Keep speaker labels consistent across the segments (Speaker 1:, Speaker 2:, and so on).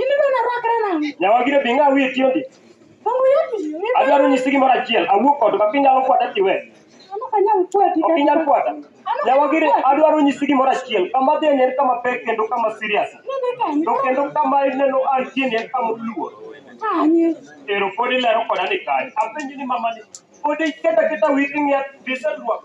Speaker 1: Ineno
Speaker 2: narwakra nang'o? Nyawagire bi ng'a wiye
Speaker 1: tiendi. Ongo yati. Adwaro nyisi gimoro achiel. Awuok kod ka kinyalo kwata tiwe. Ano kanyal kwati. Ok inyal kwata. Nyawagire adwaro nyisi gimoro achiel. Kama dhi en kama pek kendo kama serious. Nende kanyo. To kendo kama ineno an tiendi en kama oluor. Kanye. Ero pod ilero koda ni kanye. Apenji ni mama ni. Pod iketa keta wigi ng'e visa dwako.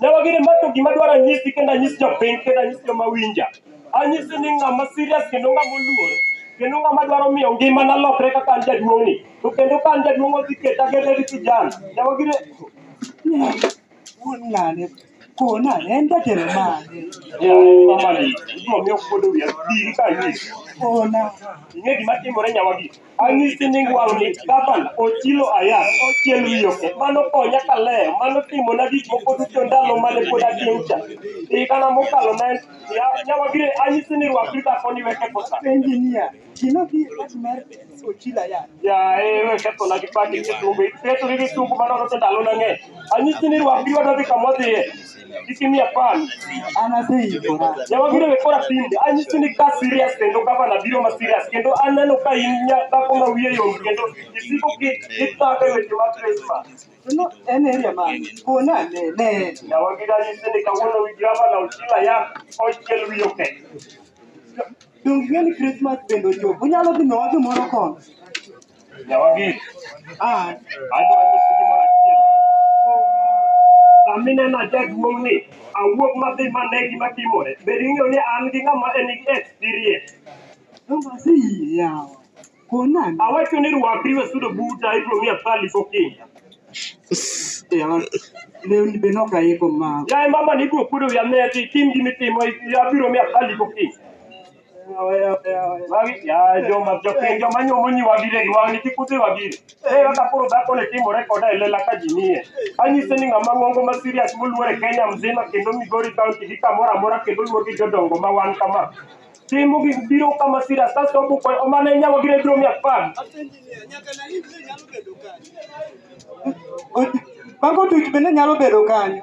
Speaker 2: Nyalo gini ma
Speaker 1: to gima dwaro anyisi kendo anyis jopiny kendo anyis joma winja. Anyisi ni ng'ama serious kendo ng'ama oluor kendo ng'ama dwaro miyo ngimana lokre kaka an jaduong'ni. To kendo ka an jaduong' odhi keta gede gi kijana. Nyalo gini
Speaker 2: Wuon ng'ane. Kona en jatelo mane. yaani mama ni
Speaker 1: ibiro miyo kuodo wiya diri ka anyisi. Kona.
Speaker 2: Ing'e gima
Speaker 1: timore nyawagi. Anyisi nying wang'ni Gaban Ochilo Ayat ochiel wiyoke mano konya kalewo mano timona gik moko duto ndalo mane pod atin cha higana mokalo ne nyawagire anyisi ni rwakri dhakoni we ketho sa Engineer, gima
Speaker 2: bi wach mar Ochila ya. yaye we kethona
Speaker 1: gi pati gi tumbe iketori gi tumbu manono to ndalo nang'eny anyisi ni rwakri wadwadhi kamodhiye itimia pan
Speaker 2: anaseyikora ne wabiro we kora
Speaker 1: tinde anyisi ni ka serious kendo gavana biro ma serious kendo aneno ka in nya- dhako ma wiye yom kendo isiko ki- ipako e weche mag Christmas no en area
Speaker 2: man kona ne ne na wabiro anyisi ni
Speaker 1: kawuono wi gavana ochila yak ochiel wiye okech
Speaker 2: donge ni Christmas bende ochopo unyalo dhi miwa gimoro kono
Speaker 1: Nyawagik. Ah, adwa nyisi gimoro achiel. Sami neno jaduong' ni awuog madhi mane gima timore. Be ing'eyo ni an gi ng'ama en gi experience? Nobase
Speaker 2: yie yawa. Konan. Awacho ni rwakri
Speaker 1: we sudo buta ibiro miya thali gokinda.
Speaker 2: Yawa. Lewni be nok aiko ma. Yaye mama ni ibiro kuodo
Speaker 1: wiya ne ti tim gimi timo abiro miya thali gokinda. Wagi ya joma jopiny joma nyuomo nyi wagire gi wang'ni kik udhi wagire. Eh kaka koro dhako ne timore koda e lela ka ji nie. Anyise ni ng'ama ng'ongo ma serious moluor e Kenya mzima kendo Migori County gi kamoro amora kendo luor gi jodongo ma wan kama. Timo gi biro kama serious kasto obuko omana inya wagire biro mia apar.
Speaker 2: Mago tich bende nyalo bedo kanyo.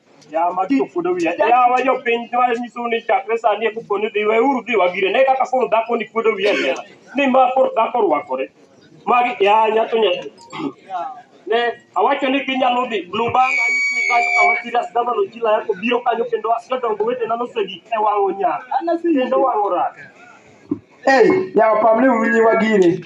Speaker 2: Yawa magi ofuodo
Speaker 1: wiya. Yawa jopiny dwa nyisou ni chakre sani e koponi dhi weuru dhi wagire. Ne kaka koro dhako ni kuodo wiya lela. Ni ma koro dhako orwakore. Magi ya nyato nyato. Ne awacho ni ginyalo dhi blue band anyisi ni kanyo kama serious dama no jila yako biro kanyo kendo jodongo wetena nosegi e wang'o nyar. Kendo wang'o
Speaker 3: rak.
Speaker 1: Hey,
Speaker 3: yawa
Speaker 1: pamne uru
Speaker 3: nyiwa gini.